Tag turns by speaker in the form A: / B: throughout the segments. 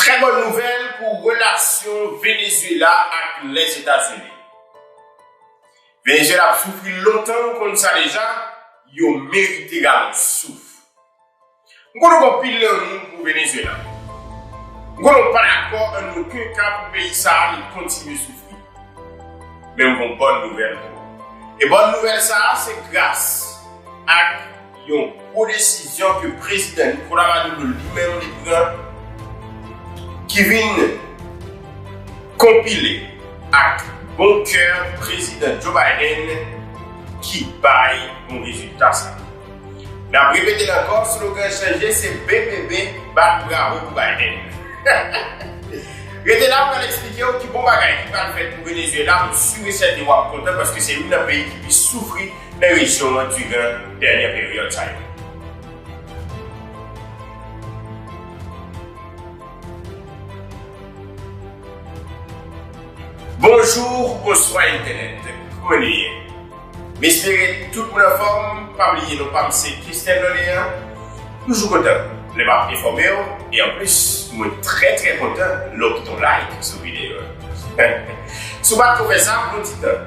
A: Trè bòn nouvèl pou relasyon Venezuela ak Lèzetazini. Venezuela ap soufri lontan nou konn sa deja, yo merite galon souf. M konn nou gen anpil lanmou pou Venezuela. M konn nou pa dakò an oken ka pou peyi sa a li kontinye soufri. Men m gen yon bòn nouvèl pou ou. E bòn nouvèl sa a se gras ak. Yon gwo desizyon ke Prezidan Nicolas Maduro li menm li pran ki vin konpile ak bon kè Prezidan Joe Biden ki bay bon rezilta sa. N ap repete l ankò, slogan chanje se BBB bat bravo pou Biden. Rete la pral eksplike w ki bon bagay ki pral fèt pou Venezuela, m sur et certain w ap kontan paske se youn nan peyi ki plis soufri Ereksyon an trigè dènyè peryòd sa yo. Bonjour bonswa entènèt kouman nu ye m espere tout moun anfòm pa bliye non pam se Christian Doléan toujou kontan lè map enfòmew e anplis mwen trè trè kontan lè w kite yon like sou videyo an si w pat ko fè sa pran ti tan.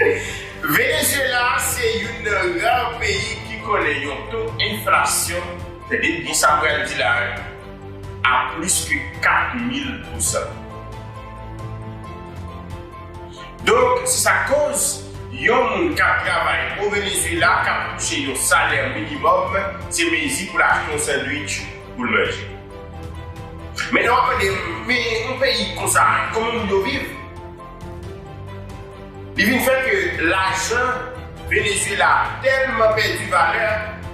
A: Venezyela se youn nan ra peyi ki konnen yon to enflasyon, tande byen sa m pral di la a, a plis ke 4 mil pousan. Donk, se sa k koz, yon moun k ap travay o Venezyela, k ap touche yon salè minimòm, se mezi pou l achte yon sandwich pou l manje. Men lè w ap mande m, men yon peyi konsa, kòman moun yo viv? Li vin fè ke lajan Venezuela tèlman pèdi valè,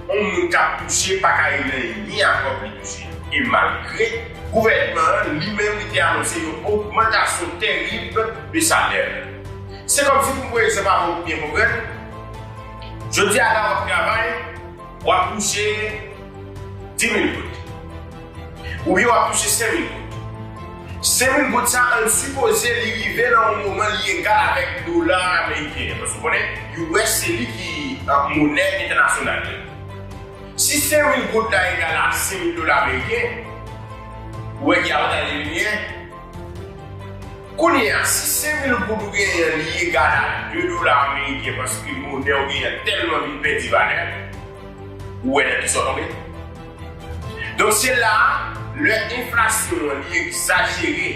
A: yon moun kap touche pa ka elen ni a kòb li touche. E malgre gouvènman an li menm li te anonse yon ogmantasyon terib de salè. Se kòmsi pou m pran egzanp avè w pou byen konprann, jodi a la wap travay, wap touche 10 mil goud. Ou byen wap touche 5 mil goud. 5 mil goud sa an sipoze li rive nan yon moman li egal avèk dola ameriken an. Paske ou konnen US se li ki monè entènasyonal yo. Si 5 mil goud la egal a 5 mil dola ameriken, ou wè ki avantaj li vin gen. Kounye a, si 5 mil goud ou genyen an li egal a 2 dola ameriken paske monè ou genyen an tèlman vin pèdi valè, ou wè nan kisa w tonbe. Donk se la a, lè enflasyon an li egzajere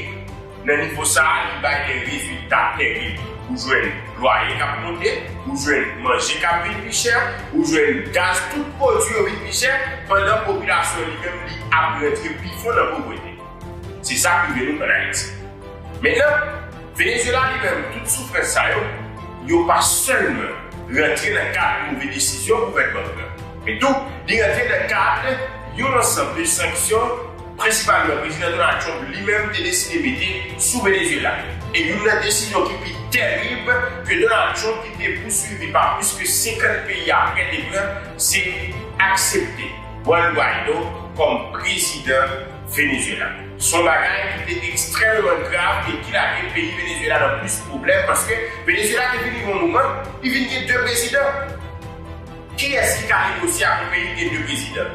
A: nan nivo sa a, li bay de rezilta terib. Ou jwenn lwaye k ap monte, ou jwenn manje k ap vin pi chè, ou jwenn gaz, tout pwodui yo vin pi chè, pandan popilasyon an li menm li ap rantre pi fon nan povrete. Se sa k rive nou ann Ayiti. Mentnan. Venezuela li menm tout soufrans sa yo, yo pa sèlman rantre nan kad move desizyon gouvènman an pran, men tou li rantre nan kad yon ansanm de sanksyon prensipalman Prezidan Donald Trump li menm te deside mete sou Venezuela. E youn nan desizyon ki pi terib ke Donald Trump ki te pouswivi pa plis ke 50 peyi apre te pran, se aksepte Juan Guaido kòm prezidan Venezuela. Se yon bagay ki te ekstrèmman grav e ki lage peyi Venezyela nan plis pwoblèm paske Venezyela te vin rive yon moman li vin gen 2 prezidan. Kiyès ki ka negosye ak yon peyi ki gen 2 prezidan?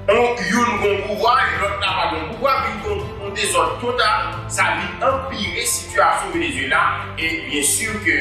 A: On youn gen yon pouvwa e lòt la pa gen yon pouvwa vin gen yon dezòd total sa vin anpire sitiyasyon Venezyela e byen sur ke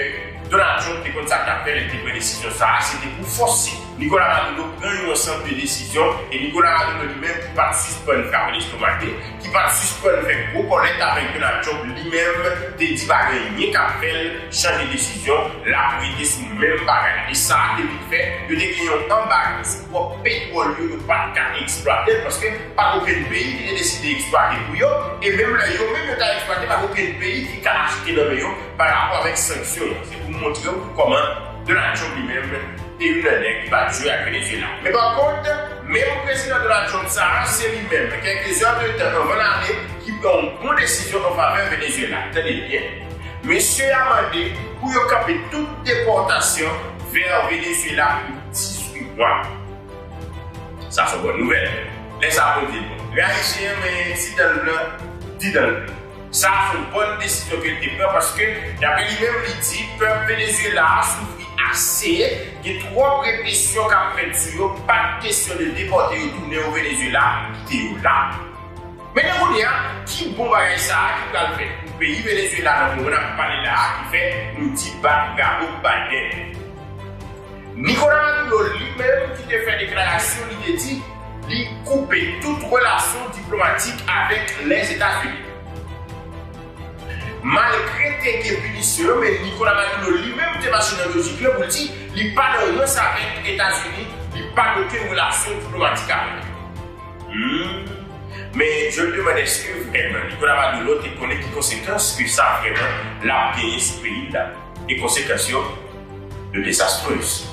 A: Donald Trump te konn sa li tap fè lè li te pran desizyon sa a se te pou fòse Nicolas Maduro pran yon ansanm de desizyon e Nicolas Maduro li menm ki pat sispann krape lestomak li, ki pat sispann fè gwo kòlèt avèk Donald Trump li menm te di pa gen anyen kap fèl chanje desizyon, lap rete sou menm bagay e sa te vin fè yo te gen yon anbago sou pwòp petwòl yo, yo pat ka eksplwatel paske pat okenn peyi ki te deside eksplwate pou yo e menm lè yo menm yo ta eksplwate pat okenn peyi ki ka achte nan men yo parapò avèk sanksyon an. Se pou montrew kòman. Donald Trump li menm te youn nan nèg ki pa t jwe ak Venezuela. Men pa kont, menm Prezidan Donald Trump sa a, se li menm, kèlke zè de tan anvan l ale, ki pran yon bon desizyon an favè Venezuela. Tande byen, mesye a mande pou yo kanpe tout depòtasyon vè Venezuela pou 18 mwa. Sa s on bòn nouvèl. Lè sa bon di l bon. Lè Ayisyen renmen di dan l blan, di dan l blan. Sa a se yon bòn desizyon ke l te pran paske, dapre li menm, li di pèp Venezyela a soufri ase, gen twòp represyon k ap fèt sou yo, pa t kesyon de depòte yo tounen yo Venezyela, kite yo la. Men nan kounye a, ki bon bagay sa a ki pral fèt pou peyi Venezyela nan moman n ap pale la a ki fè nou di bat bravo pou Biden? Nicolas Maduro li menm ki te fè deklarasyon li te di. Li koupe tout relasyon diplomatik avèk Lèzetazini. Malgre te gen pinisyon yo men Nicolas Maduro li menm te mache nan lojik lan pou l di li pa nan rans avèk Etazini, li pa gen okenn relasyon diplomatik avèk yo. Humm men je me demande eske vrèman Nicolas Maduro te konnen ki konsekans ke sa vrèman lap genyen sou peyi l la? E konsekans yo yo desastrez.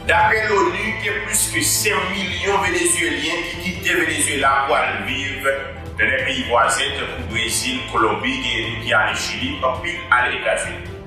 A: Daprè l'ONU, gen plis ke 5 milyon Venezyelyen ki kite Venezyela pou al viv nan lè peyi vwazen tankou Brezil, Kolonbi, genyen tou ki ale Chili, anpil ale Etazini.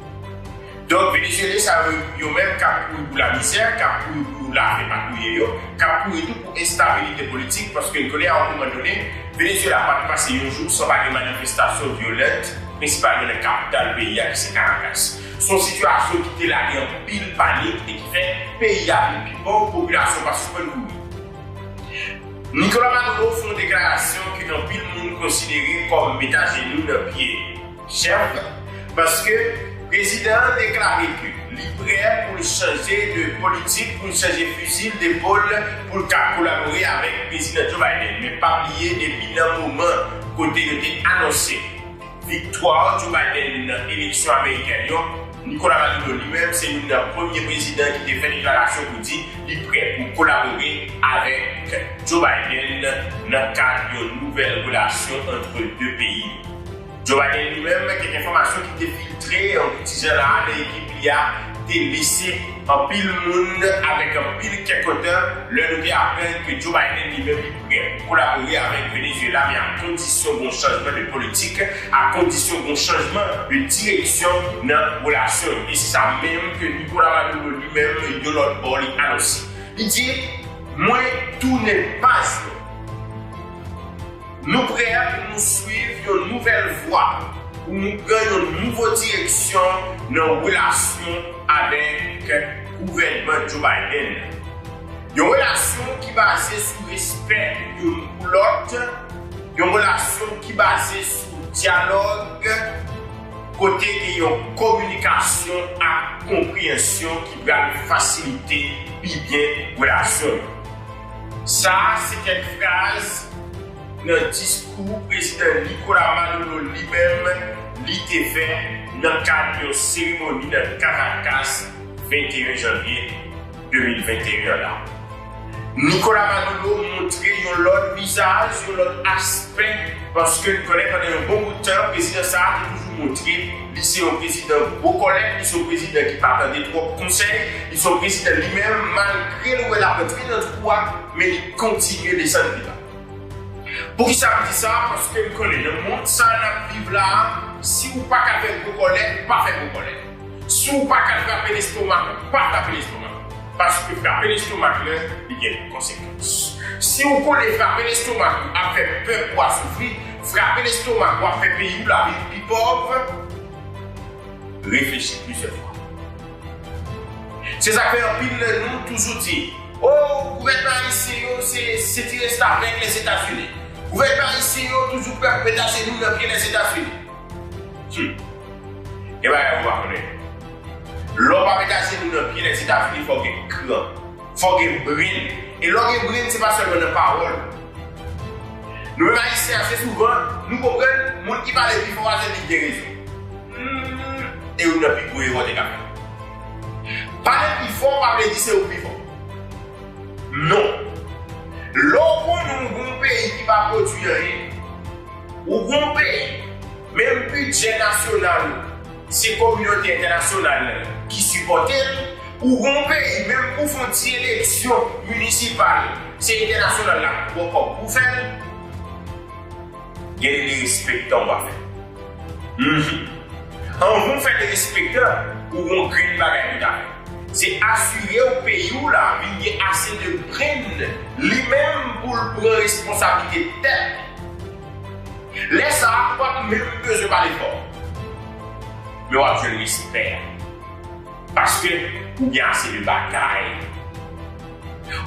A: Donk Venezyelyen sa yo, yo menm k ap kouri pou lamizè, k ap kouri pou lave pa touye yo, k ap kouri tou pou enstabilite politik, paske n konnen a yon moman done, Venezyela pa t pase yon jou san pa gen manifestasyon vyolent, prensipalman nan kapital peyi a ki se Karakas. Se yon sitiyasyon ki te lage anpil panik e ki fè peyi a vin pi pòv, popilasyon pa sispann mouri. Nicolas Maduro fè yon deklarasyon ke anpil moun konsidere kòm met ajenou nan pye chèf la, paske prezidan an deklare ke li prè pou l chanje de politik, pou l chanje fizil depol pou l ka kolabore avèk Prezidan Joe Biden. Men pa bliye depi nan moman kote yo te anonse. Viktwa Joe Biden nan eleksyon amerikèn yo, Nicolas Maduro li menm se youn nan premye prezidan ki te fè deklarasyon pou di li prè pou kolabore avèk Joe Biden nan kad yon nouvèl relasyon antre 2 peyi yo. Joe Biden li menm, kèk enfòmasyon ki te filtre pou ti jan la a nan ekip li a te lese anpil moun avèk anpil kèkotan lè nou te aprann ke Joe Biden li menm li Gen pou kolabore avèk Venezuela men ak kondisyon gon chanjman de politik, ak kondisyon gon chanjman de direksyon nan relasyon yo. E se sa menm ke Nicolas Maduro li menm yon lòt bò li anonse. Li di, Mwen tounen baz nou. Nou prè pou nou swiv yon nouvèl vwa, pou nou pran yon nouvo direksyon nan relasyon avèk gouvènman Joe Biden nan. Yon relasyon ki baze sou respè youn pou lòt, yon relasyon ki baze sou dyalòg kote gen yon kominikasyon ak konpreyensyon ki pral fasilite pi byen relasyon yo. Sa se kèk fraz nan diskou Prezidan Nicolas Maduro li menm li te fè nan kad yon seremoni nan Caracas 21 janvye. 2021 la. Nicolas Maduro montre yon lòt vizaj, yon lòt aspè paske n konnen pandan yon bon bout tan prezidan sa a te toujou montre li se yon prezidan gwo kòlèt, li se yon prezidan ki pa tande twòp konsèy, li se yon prezidan li menm malgre l wè l ap antre nan twou a men li kontinye desann pi ba. Poukisa m di sa a paske n konnen nan mond sa a n ap viv la a si ou pa ka fè gwo kòlèt, pa fè gwo kòlèt. Si w pa ka trape lestomak ou, pa trape lestomak ou. Paske frape lestomak lè li gen konsekans. Si w konnen frape lestomak ou ap fè pèp ou a soufri, frape lestomak ou ap fè peyi w la vin pi pòv, reflechi plizyè fwa. Se sa k fè anpil nan nou toujou di, O, gouvènman ayisyen yo se se ti restavèk Lèzetazini. Gouvènman ayisyen yo toujou prè pou met ajenou nan pye Lèzetazini. Hum! Gen bagay ou pa konnen. Lè w pa met ajenou nan pye nèg Zetazini fò w gen kran. Fò w gen brenn. E lè w gen brenn se pa sèlman nan pawòl. Nou menm Ayisyen ase souvan nou konprann moun ki pale pi fò a se li ki gen rezon. Humm e youn nan pi gwo erè w te ka fè. Pale pi fò pa vle di se ou ki pi fò. Non. Lè w konnen w gen yon peyi ki pa pwodui anyen. Ou gen yon peyi. Menm bidjè nasyonal ou, se kominote entènasyonal la ki sipòte l. Pou yon peyi, menm pou fon ti eleksyon minisipal, se entènasyonal la ki pran kòb pou fè l. Gen derespektan w pa fè. Humm. Anvan w fè derespektan, ou gen yon grenn bagay pou w ta fè. Se asire w peyi w la vin gen ase de grenn li menm pou l pran responsablite tèt li. Lè sa a ou pa p menm bezwen pale fò, men w ap jwenn respè a paske ou gen ase de bagay.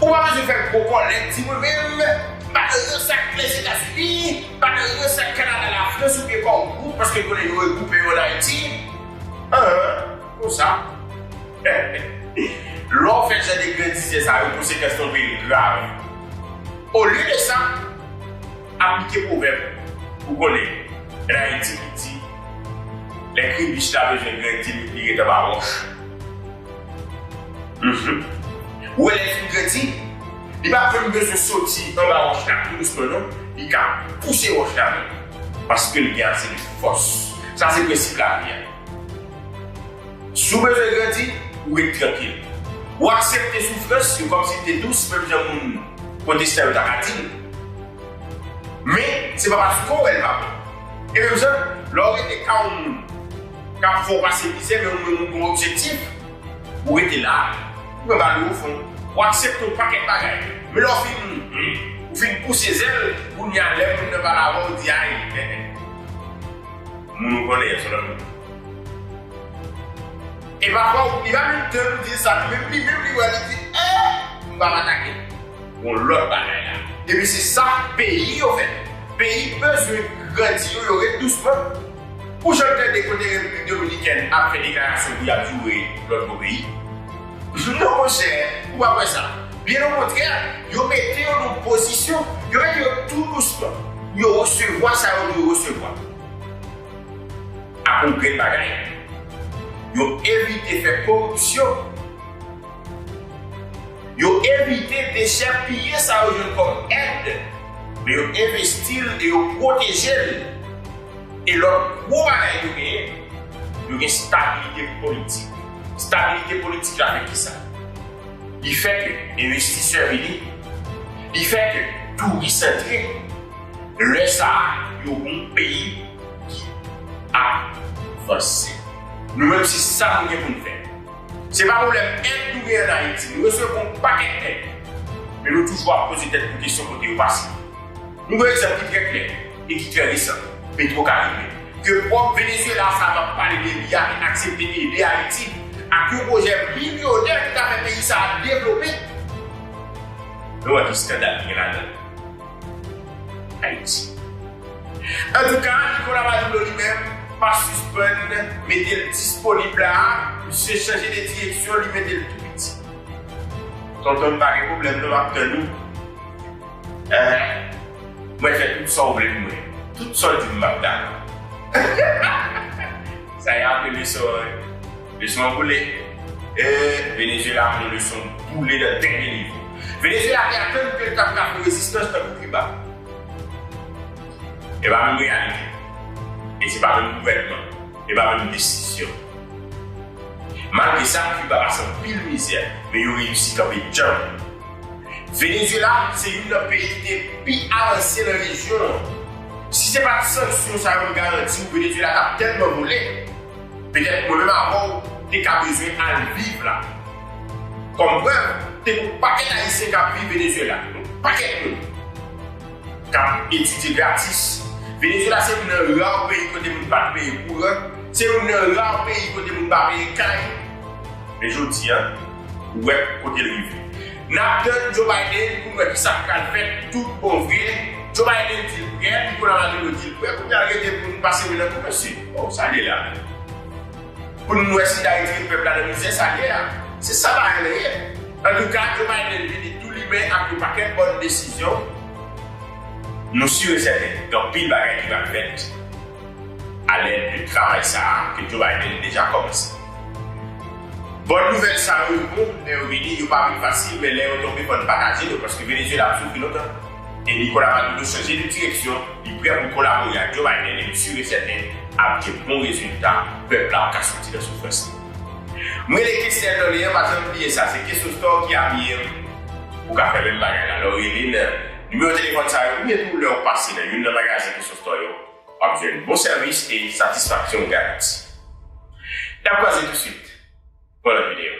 A: Ou pa bezwen fè gwo kòlèt di mwen menm m pa nan rans ak Lèzetazini, m pa nan rans ak Kanada, Lafrans oubyen Kòmgwo paske m konnen yo regwoupe yo ann Ayiti. An, konsa? Lè w fè jan de grandizè sa yo, konsekans lan vin grav. Olye de sa, Aplike pwovèb ou konnen en Haïti ki di Lè kri bich la bezwen grenn di li ret anba wòch. Ou wè lè li fin grandi, li pa menm bezwen soti anba wòch la tou dousman non, li ka pouse wòch la menm paske li gen ase de fòs. Sa se prensip lavi a. Si w bezwen grandi, ou ret trankil. Ou aksepte soufrans yo kòm si li te dous menm jan moun pwotestan yo ta ka di l. Men, se pa paske w wè l pa bon. E menm jan, lè w rete ka yon moun k ap fè w pase mizè men ou menm ou gen yon objektif, ou rete la, ou pran bal yo ofon. Ou aksepte yon pakèt bagay. Men lè w fin ou fin pouse zèl, kounye a lè moun nan pale avè w, ou di ay, eh eh. Moun ou konnen an se lòt moun. Epa fwa ou li pa menm tan pou di sa nan menm li menm li wè li di eh m pap atake gon lòt bagay la epi se sa peyi yo fè peyi bezwen grandi yo yo ret dousman ou janm tande kote repiblik dominikèn ap fè deklarasyon pou yap joure lòt gwo peyi non monchè ou pap wè sa byen okontrè yo mete yo nan pozisyon yo mete yo tou dousman pou yo resevwa sa yo dwe resevwa. ak yon grenn bagay. Yo evite fè koripsyon. Yo evite dechèpiye sa yo jwenn kòm èd, men yo envesti l e yo pwoteje l. E lòt gwo bagay yo genyen, yo gen stabilite politik. Stabilite politik la fè ki sa? Li fè ke envestisè vini, li fè ke touris antre. Lè sa a, yo bon peyi ki ap vanse. Nou menm se sa nou gen pou n fè. Se pa pwoblèm èd nou gen ann Ayiti. Nou resevwa yon pakèt èd. Men nou toujou ap poze tèt nou kesyon kote yo pase. Nou gen egzanp ki trè klè e ki trè resan, Petro Karibe. Ke pwòp Venezuela sa a m ap pale de li a te aksepte ede Ayiti ak yon pwojè milyonè ki ta fè peyi sa a devlope. Nou wè ki skandal ki gen ladan l. Ayiti. Antouka, Nicolas Maduro li menm pa sispann mete l disponib la, misye chanje de direksyon li mete l tou piti. Tonton m pa gen pwoblèm non map tann ou eeh mwen fè tout sa w vle pou mwen, tout sa w di m map dakò. Sa y a bebe sa w. Leson boule ee Venezuela yon leson boule nan dènye nivo. Venezuela te atann ke l t ap ka fè rezistans tankou Kiba. E pa menm reyalite. E se pa menm gouvènman. E pa menm desizyon. Malgre sa, Kiba pase anpil mizè, men yo reyisi kanpe djanm. Venezuela se youn nan peyi ki te pi avanse nan rejyon an. Si se pa t sanksyon sa yo m garanti w Venezuela t ap tèlman boule. Petèt mwen menm avè w te ka bezwen al viv la. Kòm prèv, te gen yon pakèt Ayisyen k ap viv Venezyela, yon pakèt moun k ap etidye gratis. Venezyela se youn nan ra peyi kote moun pa t peye kouran, se youn nan ra peyi kote moun pa peye kay. Men jodi a, ou wè kote l rive. N ap tann Joe Biden pou n wè ki sa k pral fèt toutbonvre. Joe Biden di l prè, Nicolas Maduro di l prè, kounye a l rete pou n pase men nan kou mesye. Bon sa liye la menm. Poun wè si dayiti pèp la nan mizè sa liye a. Se sa bagay la ye. Antouka Joe Biden vini tou limen ak yon pakèt bòn desizyon. Nou sur e sèten gen anpil bagay ki pral fèt a lèd de travay sa a ke Joe Biden deja kòmanse. Bòn nouvèl sa yo yo bon lè yo vini, yo pa vin fasil men lè yo tonbe fò n pataje yo paske Venezuela ap soufri lontan. E Nicolas Maduro chanje de direksyon, li prè pou l kolabore ak Joe Biden e m sur e sèten ap gen bon rezilta, pèp la ap ka soti nan soufrans li. M rele Kester Dorlean pa janm bliye sa se Kesso Store ki abiye m. Ou ka fè menm bagay la lè w rele nan nimewo telefòn sa yo oubyen tou lè w pase nan youn nan magazen Kesso Store yo, w ap jwenn bon sèvis e satisfaksyon garanti. N ap kwaze tousuit. Bon lòt videyo.